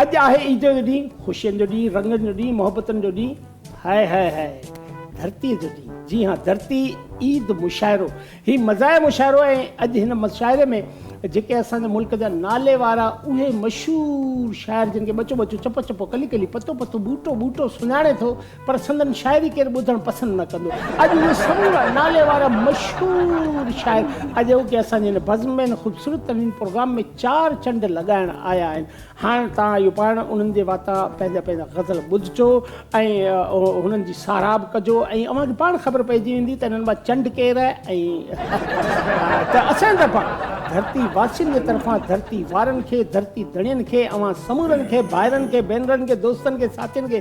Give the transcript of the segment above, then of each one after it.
اڄ آهي عيد جو ڏينهن، خوشين جو ڏينهن، رنگن جو ڏينهن، محبتن جو ڏينهن، هاء هاء هاء ڌرتي جو ڏينهن، جي ها ڌرتي عيد مشاعرو هي مزاح مشاعرو ۽ اڄ هن مشاعري ۾ جيڪي اسان جي ملڪ جا نالي وارا اهي مشهور شاعر جن کي ٻچو ٻچو چپو چپو ڪلي ڪلي پتو پتو ٻوٽو ٻوٽو سڃاڻي ٿو پر سندن شاعري ڪير ٻڌڻ پسند نه ڪندو. اڄ اهي سمورا ناليوار مشهور شاعر اڄوڪي اسان جي هن بزم ۾ هن خوبصورت ترين پروگرام ۾ چار چنڊ لڳائڻ آيا آهن. هاڻ توهان اهو پاڻ انهن جي واتان پنهنجا پنهنجا غزل ٻڌجو ۽ هنن جي ساراهه به ڪجو ۽ اوهان کي پاڻ خبر پئجي ويندي ته انهن مان چنڊ ڪير آهي ۽ ته اسان جي طرفان ڌرتي واسين جي طرفان ڌرتي وارن کي ڌرتي ڌڻين کي اوهان سمورن کي ڀائرن کي ڀينرن کي دوستن کي ساٿين کي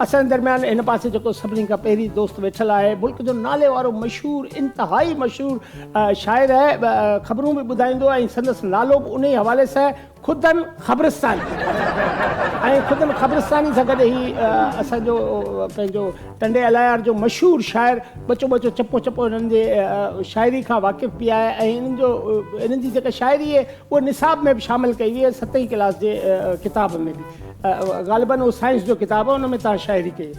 اسان جي درميان هن پاسي جيڪو سڀني کان پهرين دوست ويٺل آهي ملڪ جو نالي وارو مشهور انتهائي مشهور شاعر آهي خبرون به ٻڌائيندو ۽ سندس نالو به انهي حوالي سان خدن خبرستاني ۽ خدن خبرستاني سان گڏ هي اسان جو پنهنجو ٽنڊي الهيار جو مشهور شاعر ٻچو ٻچو چپو چپو هنن جي شاعري کان واقف به آهي ۽ هنن جو هنن جي جيڪا شاعري اهو نصاب ۾ به شامل ڪئي وئي ۽ ستين ڪلاس جي ڪتاب ۾ به غالباً اهو سائنس جو ڪتاب آهي ان ۾ توهان شاعري ڪئي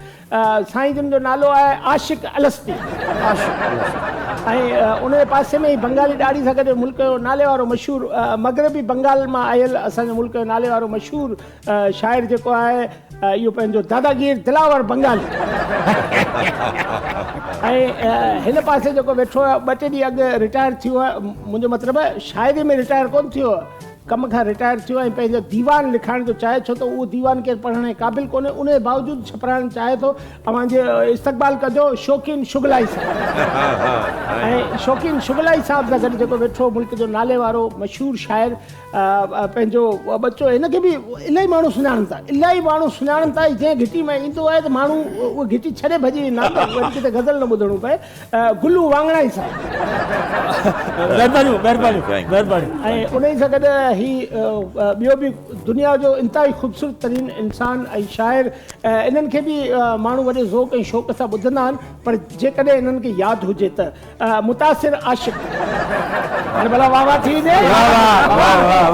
سائين جن جو نالو آهي عاشق الستي عاشق الستي ۽ ان جي پاسي ۾ ئي بنگالي ڏاڙهي سان گڏ ملڪ جو ناليوارو مشهور مغربي بنگال مان آيل اسان جي ملڪ جو ناليوارو مشهور شاعر جيڪو آهي اهو پنهنجو داداگير دلاور بنگالي ۽ هن پاسي جيڪو ويٺو آهي ٻه ٽي ڏينهن اڳ رٽائر ٿيو آهي منهنجو مطلب شاعري ۾ رٽائر ڪون ٿيو ڪم کان رٽائر ٿيو ۽ پنهنجو ديوان لکائڻ جو چاهي ڇو ته اهو ديوان ڪير پڙهڻ جي قابل ڪونهي ان جي باوجود ڇپرائڻ چاهي ٿو اوهان جي استقبال ڪجو شوقين شغلائي صاحب ۽ شوقين شغلائي صاحب سان گڏ جيڪو ويٺو ملڪ جو نالي وارو مشهور شاعر پنهنجو ٻچو هن کي به الاهي ماڻهو سڃاڻن ٿا الاهي ماڻهو سڃاڻن ٿا جنهن گهٽي ۾ ايندو آهي ته ماڻهو اهو گهٽي ڇڏي ڀڄي ويندا آهن ته وري ڪٿي غزل نه ٻڌڻو پئي گلو واڱڻائي صاحب مهربانيون مهربانيون مهربانيون ۽ انهي سان گڏ هي ٻيو به دنيا جو انتهائي خوبصورت ترين انسان ۽ شاعر انهن کي به ماڻهو وڏي ذوق ۽ شوق سان ٻڌندا آهن پر جيڪڏهن انهن کي ياد هجي ته متاثر عاشق هاڻي ڀلا واهه واهه ٿي وڃي.